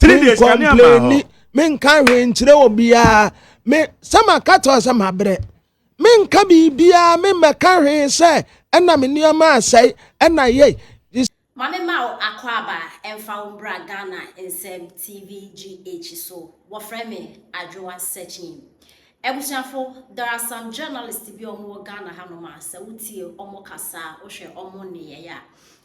three days kane ama hɔ menka hwee nkyerɛ obiara me sɛ maka to sɛ mabrɛ menka biribiara memmɛka hwee sɛ ɛna me nneɛma asɛe ɛna yei ma me ma wo akɔ aba ɛmfa wo mbra Ghana nsɛm TVGH so wɔfrɛ me adwowa sɛkyin abusuafo there are some journalists bi ɔmo wɔ Ghana hanom a sɛ wotie ɔmo kasaa wohwɛ ɔmo nneyɛe a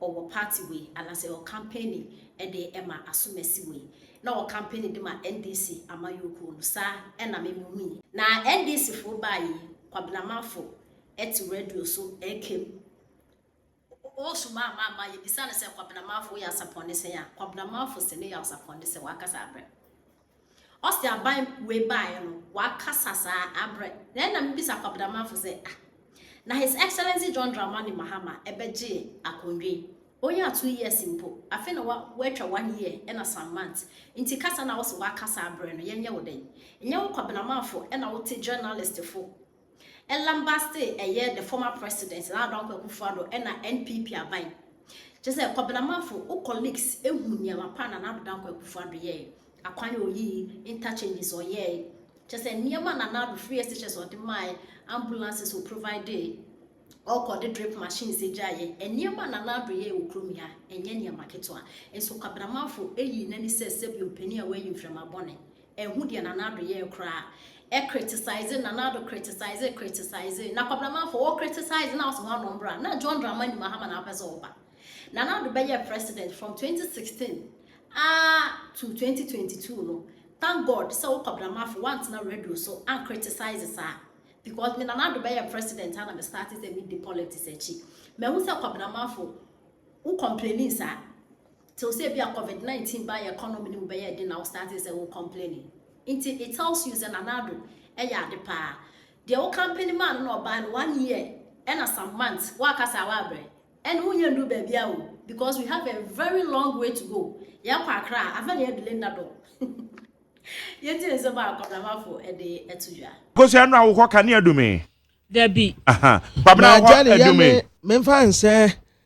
ɔwɔ party wei anasɛ ɔkampeni de ma asomasi wei na ɔkampeni de ma NDC amayɔkuo no saa ɛna me me hui. Na NDC foɔ baa yei Kwabena Manfo te radio so ɛka mu o so maa maa maa yɛbisa no sɛ Kwabena Manfo woyɛ asapɔnne sɛn a Kwabena Manfo se ne yɛ asapɔnne sɛ wakasa abrɛ. Ɔse aban wei baeɛ no wakasa saa abrɛ na ɛna mebisa Kwabedamanfo sɛ ah na His Excellency John Dramani Mahama ɛbɛgyee akondwa yi ɔnyaa two years mpo afei na wa watwa one year ɛna some months nti kasa na wose wakasa abrɛ no yɛnyɛ wo dɛn? Nyɛ wo Kwabenamanfo ɛna wote journalistfo Ɛlam Baste ɛyɛ the former president Nana Addo Dankwa Akufo Addo ɛna NPP aban. Kyerɛ sɛ Kwabena Manfo wo colleagues ehu nneɛma pa a Nana Addo Dankwa Akufo Addo yɛe. Akwan a oyii, interchanges ɔyɛe. Kyerɛ sɛ nneɛma a Nana Addo free SHS ɔde mae, ambulances o providee, ɔkɔ de drip machines gyaeɛ. Nneɛma a Nana Addo yɛe wɔ kurom yi a ɛnyɛ nneɛma ketewa. Nso Kwabena Manfo eyi n'ani sɛ sɛbi ɔpanin a wayi mframa bɔne. Ehu deɛ Nana Addo yɛɛ koraa. Ɛ criticize Nana Addo criticize criticize na Kwabena Manfo wo criticize na wose ho ano mbra na John Dramani Mahama na wopɛ sɛ wo ba. Nana Addo bɛ yɛɛ president from 2016 aa to 2022 no thank God sɛ wo Kwabena Manfo wantena radio so an criticize saa because me Nana Addo bɛ yɛɛ president a na me starte sɛ me di politics akyi. Mahu sɛ Kwabena Manfo wo complaining saa. Tew sɛ ebia covid 19 baa yɛ economy no mu bɛyɛɛ den na wo startee sɛ wo complaining nti it tells you sɛ Nana Addo yɛ ade paa. Deɛ wo campaign maa no na ɔbaa no one year ɛna some months woaka saa woabrɛ ɛne wo nyɛ nduru baabiaa o because we have a very long way to go yɛkɔ Accra a amfa ne yɛ delay nna dɔ yɛntie nsɛm a Kwabramafoɔ de ɛto dwa. Kosua no a wo hɔ kanea du me. Dabi. Aha. Kwabena wo hɔ adu me. Maja ne yɛ me menfa nsɛ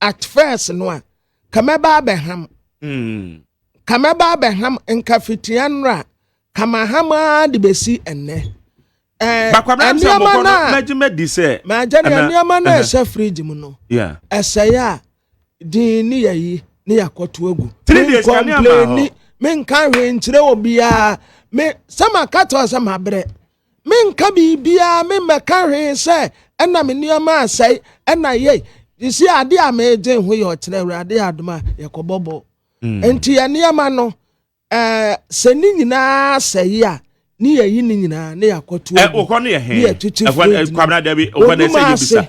At first no a, ka mɛba abɛham. Ka mɛba abɛham nka fitia nnora, ka maham ara de bɛsi ɛnnɛ. Nneɛma no a magya ne nneɛma no a ɛsɛ fridge mu no, ɛsɛe a din ne yɛyi ne yɛakɔto agu. Menkɔmpleni, menka hwee nkyerɛ obiara. Me sɛ maka tɔ sɛ mabrɛ. menka biribiara memmɛka hwee sɛ ɛna me nneɛma asɛe ɛna yei sisi ade a meegye ho yɛ ɔkyerɛ awurade adom a yɛkɔbɔ bɔ hmm. nti yɛ nneɛma no ɛɛ sɛ ne nyinaa sɛe a ne yɛyi ne nyinaa ne yɛakɔto ɛwɔ eh, no yɛ hɛn ɛwɔ no kwabena dabi ɔbɛn ɛsɛ yɛ bisa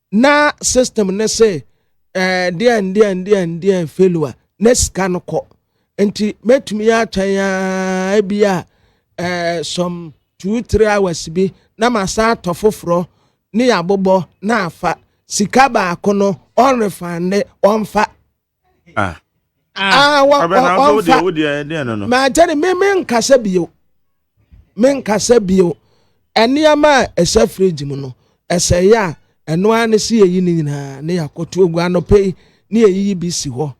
na system ne se eh, deɛn deɛn deɛn deɛn failure na sika no kɔ nti mɛtumi atwɛn a bi a eh, some two three hours bi na masan atɔ foforɔ ne yɛabobɔ na afa sika baako no ɔnrefande ɔmfa Ah. Ah, ah wa, wa, wa, wa, ma kyɛne me me nkasa bio me nkasa bio nneɛma a ɛsɛ fridge mu no ɛsɛ yɛ a ɛno ara ne si yɛyi ne nyinaa ne yɛakɔto agu anɔpɛ yi ne yɛyiyi bi si hɔ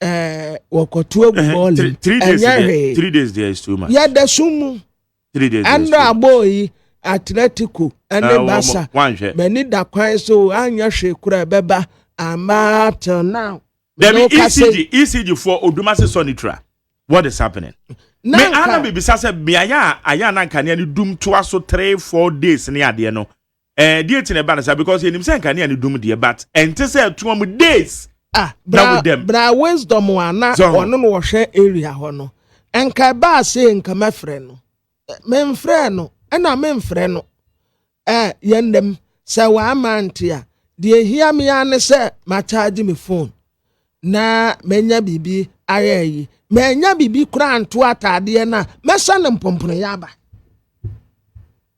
ɛɛ wɔkɔto agu bɔɔle ɛnyɛ hwee yɛda so mu Ɛnna abɔɔ yi, Atletico ne Barca, m'ani da kwan so anyɛ hwee koraa ɛbɛba ama till now. Dɛbi ECG ECG for Odumase Sonitura what is happening? Me ana bibisa sɛ beaeɛ a ayɛ anankanea ne dum toa so three four days ne adeɛ no Eh deɛ ti na ɛba no saa because yɛnim sɛ nkanea no dum deɛ but ɛnte sɛ ɛtoa mu days Ah, na bra, wodam. bra wisdom a na So. ɔno na ɔhwɛ area hɔ no. Nka ɛbaa sei nka mɛfrɛ no. Eh, Memfrɛɛ no, ɛna memfrɛ no. Eh, yɛn dɛm, sɛ wama nte a, deɛ ehia me ara ne sɛ makyagye me phone na manya biribi ayɛ ayi. Manya biribi koraa nto ataadeɛ no a, mɛhyɛ no mpomponoyɛ aba.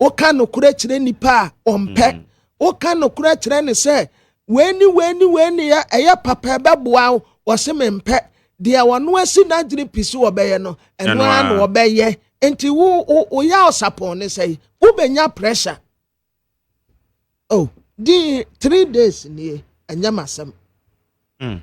Woka nokorɛ kyerɛ nipa a, ɔmpɛ. Mm. Woka nokorɛ kyerɛ ne sɛ, wei ne wei ne wei ne yɛ, ɛyɛ papa ɛbɛboa wo, wɔse mempɛ. Deɛ ɔno asi n'adwene pi so ɔbɛyɛ no, ɛno ara na ɔbɛyɛ. Nti wo wo woyɛ ɔsapɔn ne sɛ wobɛnya pressure. Oh, di three days nie, ɛnyɛ m'asɛm. Mm.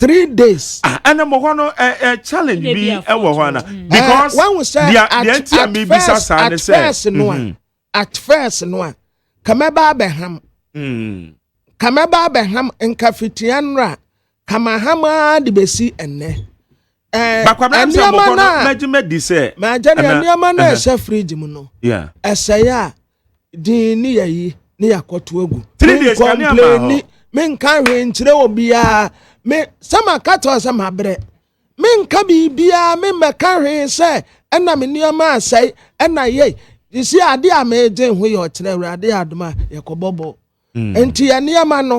three days. ah ɛna mo hɔ no ɛ eh, ɛ eh, challenge bi ɛwɔ hɔ ana. Mm. because eh, wɔn sɛ deɛ deɛ nti a mi bisa saa ne sɛ. at first no a mm-hmm. at first no a kàmɛba abɛham. Mm. kàmɛba abɛham nkafitia nra kàmaham ara de besi ɛnɛ. ɛɛ nneɛma naa mɛgye mɛdi sɛ. mɛgye nneɛma naa ɛhyɛ fridge mu no. ɛsɛ yɛ a. din ne yɛyi ne yɛakɔto agu menkɔmpleni menka hwee nkyerɛ obiara me sɛ maka to sɛ mabrɛ menka biribiara memmɛka hwee sɛ ɛna me nneɛma asɛe ɛna yɛi ɛsi adeɛ a medwen ho yɛ ɔkyerɛ awurade adom a yɛkɔbɔbɔ mm. nti yɛ nneɛma no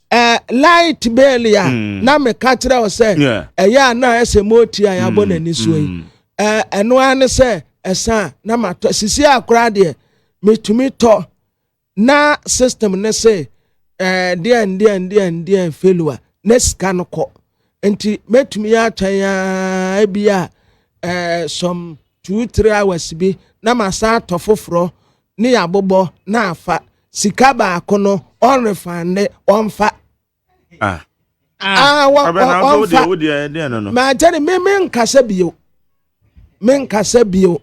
ɛɛ light bɛɛli a mm. na meka kyerɛ wo sɛ ɛyɛ a na ɛsɛ mooti a yɛabɔ mm, n'ani soɔ yi mm. ɛɛ ɛno ara ne sɛ ɛsan na matɔ sisi akora deɛ metumi tɔ na system ne se ɛɛ deɛn deɛn deɛn deɛn failure na sika no kɔ nti mɛtumi atwɛn aa bi a ɛɛ some two three hours bi na masan atɔ foforɔ ne yabobɔ na afa sika baako no ɔnrefande ɔnfa ah. Ah, ah, ɔnfa makyɛ ne me menkasa bio menkasa bio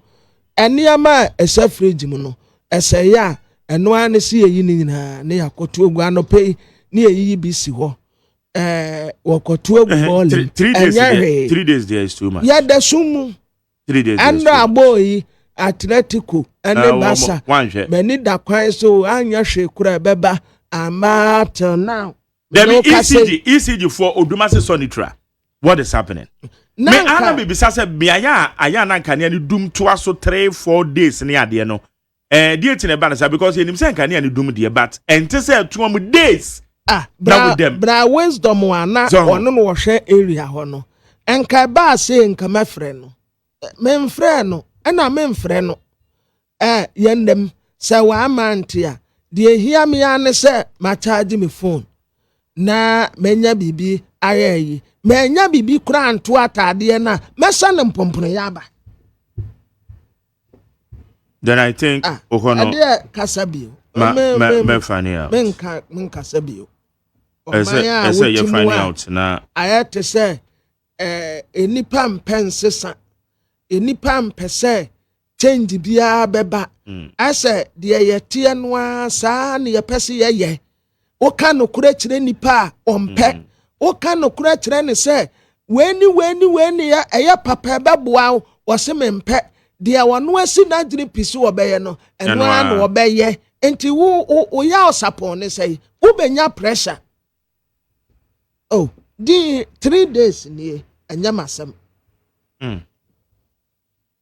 nneɛma a ɛsɛ fridge mu no ɛsɛ yɛ a ɛno ara ne si yɛyi ne nyinaa ne yɛakɔto agu anɔpɛ yi ne yɛyiyi bi si hɔ ɛɛ wɔkɔto agu bɔɔlem ɛnyɛ hwee yɛda so mu Ɛnna abɔɔ yi, Atletico ne Barca, m'ani da kwan so anyɛ hwee koraa ɛbɛba ama till now. Dɛbi ECG ECG for Odumase Sonitura what is happening? Me ana bibisa sɛ beaeɛ a ayɛ anankanea ne dum toa so three four days ne adeɛ no Eh deɛ ti na ɛba no saa because yɛnim sɛ nkanea no dum deɛ but ɛnte sɛ ɛtoa mu days Ah na bra wodam. bra wisdom a na Sɛ ho. ɔno na ɔhwɛ area hɔ no nka ɛbaa sei nka mɛfrɛ no Eh, memfrɛɛ no ɛna memfrɛ no eh, yɛnam sɛ wama nte a deɛ ɛhia me ara ne sɛ makyagye me phone na manya biribi ayɛ ayi manya biribi koraa nto ataadeɛ no a mɛsɛ no mpomponoyɛ aba Then I think ah, okɔ no. Ɛdeɛ kasa bio. Ma ma ma fani out. Me nka me nkasa bio. Ɛsɛ ɛsɛ yɛ fani out na. Ayɛ te sɛ ɛɛ nipa mpɛ nsesa nipa mpɛ sɛ change biara bɛba. Ɛsɛ hmm. deɛ yɛteɛ no ara saa na yɛpɛ sɛ yɛyɛ. Woka nokorɛ kyerɛ nnipa a, ɔmpɛ. Mm. Woka nokorɛ kyerɛ ne sɛ, wei ne wei ne wei ne yɛ, ɛyɛ papa ɛbɛboa wo, wɔse mempɛ. Deɛ wɔno asi n'adwene pi so wɔbɛyɛ no, ɛno ara na wɔbɛyɛ. Nti wo, wo, woyɛ ɔsapɔn ne sɛ, wobɛnya pressure. Oh, di three days nie, ɛnyɛ m'asɛm. Mm.